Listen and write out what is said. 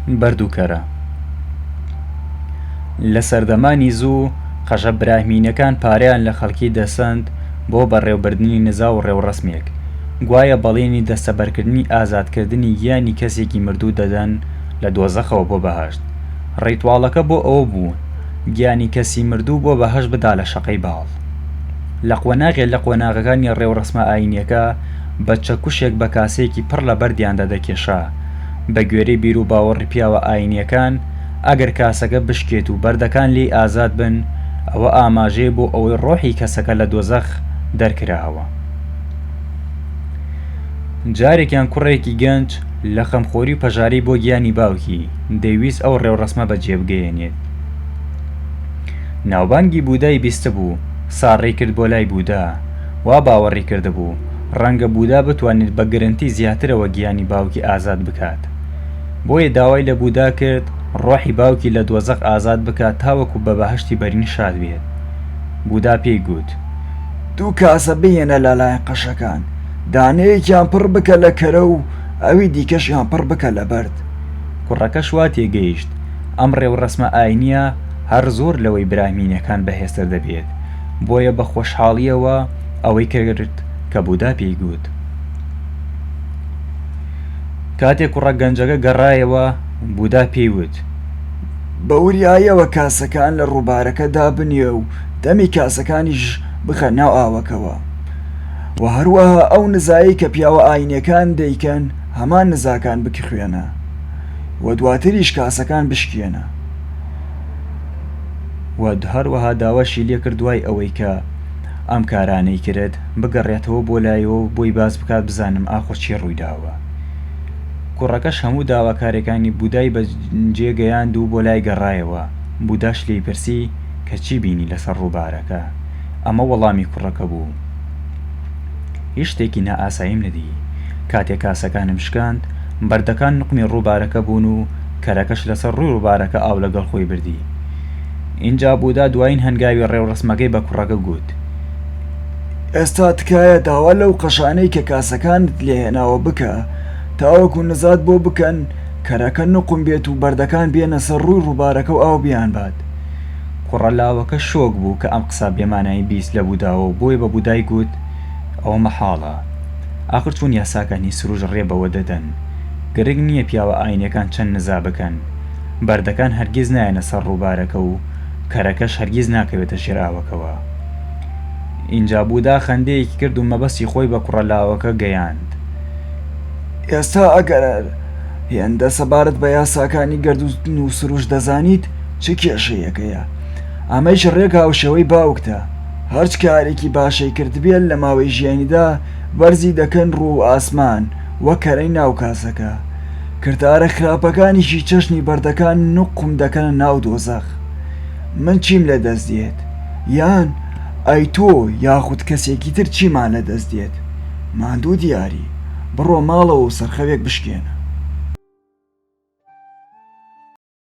بەرد و کەرە لە سەردەمانی زوو قەژە براهمینەکان پارەیان لە خەڵکی دەسەند بۆ بەڕێوەبردنی نزا و ڕێوڕەسمێک گوایە بەڵێنی دەستەبەرکردنی ئازادکردنی گیانی کەسێکی مردوو دەدەن لە دۆزەخەوە بۆ بەهەشت ڕیتواڵەکە بۆ ئەوە بوو گیانی کەسی مردوو بۆ بەهەشت بدا لە شەقەی باڵ لە قۆناغێ لە قۆناغەکانی ڕێوڕەسمە ئاینیەکە بە چەکوشێک بە کاسەیەکی پڕ لە بەردیاندا دەکێشا. بە گوێرەی بیروباوەڕی پیاوە ئایینییەکان، ئەگەر کاسەکە بشکێت و بەردەکان لێی ئازاد بن، ئەوە ئاماژەیە بۆ ئەوەی ڕۆحی کەسەکە لە دۆزەخ دەرکراوە. جارێکیان کوڕێکی گەنج لە خەمخۆری و پەژارەی بۆ گیانی باوکی، دەیویست ئەو ڕێوڕەسمە بەجێبگەیەنێت. ناوبانگی بوودای بیستبوو، ساڕێی کرد بۆ لای بوودا. وا باوەڕی کردبوو ڕەنگە بودا بتوانێت بە گرنتی زیاترەوە گیانی باوکی ئازاد بکات. بۆیە داوای لە بودا کرد ڕۆحی باوکی لە دۆزەخ ئازاد بکات تاوەکو بە بەهەشتی بەرین شاد بێت. بودا پێی گوت. دوو کاسە بهێنە لەلایەن قەشەکان، دانەیەکیان پڕ بکە لە کەرە و ئەوی دیکەشیان پڕ بکە لە بەرد. کوڕەکەش وا تێگەیشت ئەم ڕێوڕەسمە ئاینییە هەر زۆر لەوەی براهمینەکان بەهێزتر دەبێت. بۆیە بە خۆشحاڵییەوە ئەوەی کرد کە بودا پێی گوت. کاتێک کوڕە گەنجەکە گەڕایەوە بودا پێی وت بە وریایەوە کاسەکان لە ڕووبارەکە دابنیە و دەمی کاسەکانیش بخە ناو ئاوەکەوە و هەروەها ئەو نزایەی کە پیاوە ئاینەکان دەیکەن هەمان نزاکان بکخوێنە و دواتریش کاسەکان بشکێنە. و هەروەها داواشی لێکرد دوای ئەوەی کە ئەم کارانەی کرد بگەڕێتەوە بۆ لایەوە بۆی باس بکات بزانم ئاخۆ چی ڕوویداوە کوڕەکەش هەموو داواکارەکانی بودای بە جێگەیاند و بۆ لای گەڕایەوە بوداش لێی پرسی کە چی بینی لەسەر ڕووبارەکە ئەمە وەڵامی کوڕەکە بوو هیچ شتێکی نائاساییم ندی کاتێک کاسەکانم شکاند بەردەکان نقمی ڕووبارەکە بوون و کەرەکەش لەسەر ڕووی ڕووبارەکە ئاو لەگەڵ خۆی بردی. ئینجا بودا دوایین هەنگاوی ڕێوڕەسمەکەی بە کوڕەکە گوت، ئێستا تکایە داوا لەو قەشانەی کە کاسەکانت لێ هێناوە بکە تاوەکو نزات بۆ بکەن، کەرەکە نوقم بێت و بەردەکان بێنە سەر ڕووی ڕووبارەکە و ئاو بیانبات. کوڕە لاوەکە شۆک بوو کە ئەم قسە بێمانایی بیست لە بوداوە و بۆیە بە بودای گوت، ئەوە مەحاڵە. ئاخر چۆن یاساکان هی سروش ڕێ بەوە دەدەن؟ گرنگ نییە پیاوە ئایینیەکان چەند نزا بکەن، بەردەکان هەرگیز نایەنە سەر ڕووبارەکە و کەرەکەش هەرگیز ناکەوێتە ژێر ئاوەکەوە. ئینجا بودا خەندەیەکی کرد و مەبەستی خۆی بە کوڕە لاوەکە گەیاند. ئێستا ئەگەر هێندە سەبارەت بە یاساکانی گەردوون و سروشت دەزانیت، چ کێشەیەکەیە؟ ئەمەیش ڕێک هاوشێوەی باوکتە، هەرچ کارێکی باشی کردبێت لە ماوەی ژیانیدا بەرزی دەکەن ڕوو ئاسمان، و کەرەی ناو کاسەکە، کردارە خراپەکانیشی چەشنی بەردەکان نوقم دەکەنە ناو دۆزەخ. من چیم لە دەست دێت؟ یان ئەی تۆ یاخود کەسێکی تر چیمان لە دەست دێت؟ ماندوو دیاری، بڕۆ ماڵەوە و سەرخەوێک بشکێنە.